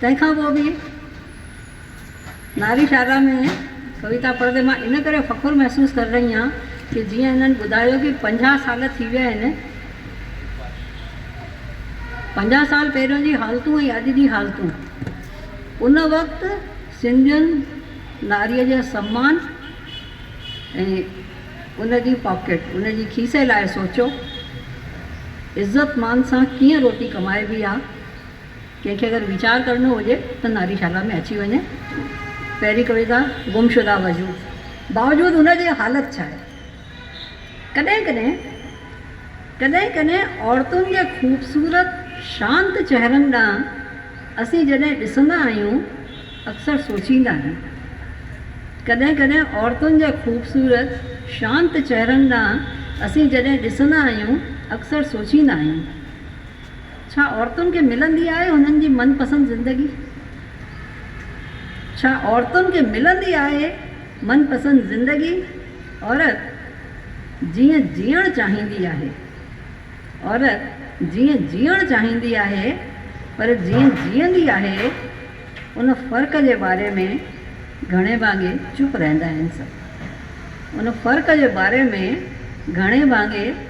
تنهن کان پوء به ناري شاردا ۾ ڪويتا پڙهندي مان ان ڪري فخر محسوس ڪري رهي آهيان ڪي جيئن هنن ٻڌايو ڪي پنجاهه سال ٿي ويا آهن پنجاهه سال پهريون جي حالتون ۽ اڄ جي حالتون ان وقت سنڌين ناري جي سمان ۽ ان جي پاڪيٽ ان جي کيسي لاء سوچيو عزت مان سان ڪيئن روٽي ڪمائبي آهي ڪنهن کي اگر ويچار ڪرڻو هجي ته ناري شالا ۾ اچي وڃي. پهرين ڪويتا گمشده وجود باوجود ان جي حالت ڇا آهي؟ ڪڏهن ڪڏهن ڪڏهن ڪڏهن عورتن جي خوبصورت شانت چهرن ڏانهن اسين جڏهن ڏسندا آهيون اڪثر سوچيندا آهيون ڪڏهن ڪڏهن عورتن جي خوبصورت شانت چهرن ڏانهن اسين جڏهن ڏسندا آهيون اڪثر سوچيندا آهيون ڇا عورتن کي ملندي آهي هنن جي من پسند زندگي؟ ڇا عورتن کي ملندي آهي من پسند زندگي؟ عورت جيئن جيئڻ چاهيندي آهي. عورت جيئن جيئڻ چاهيندي آهي پر جيئن جيئندي آهي ان فرق جي باري ۾ گهڻي ڀاڱي چپ رهندا آهن سڀ. ان فرق جي باري ۾ گهڻي ڀاڱي.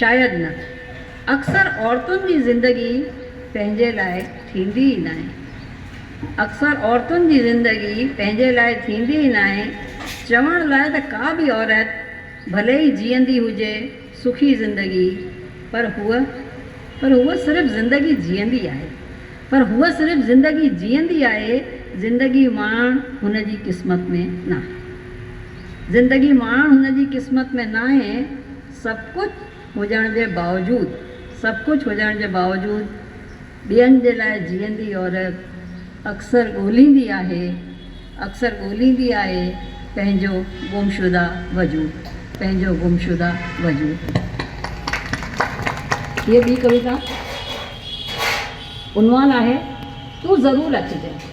شايد نه. اڪثر عورتن جي زندگي پنهنجي لاء ٿيندي ئي ناهي. اڪثر عورتن جي زندگي پنهنجي لاء ٿيندي ئي ناهي. چوڻ لاء ته ڪا به عورت ڀلي ئي جيئندي هجي سکي زندگي پر هوء پر هوء صرف زندگي جيئندي آهي. پر هوء صرف زندگي جيئندي آهي، زندگي ماڻڻ هن جي قسمت ۾ ناهي. زندگي ماڻڻ هن جي قسمت ۾ ناهي، سڀ ڪجهه هجڻ جي باوجود سڀ ڪجهه هجڻ جي باوجود ٻين جي لاء جيئندي عورت اڪثر ڳوليندي آهي اڪثر ڳوليندي آهي پنهنجو گمشده وجود پنهنجو گمشده وجود. هيء ٻي ڪويتا عنوان آهي تون ضرور اچجانء.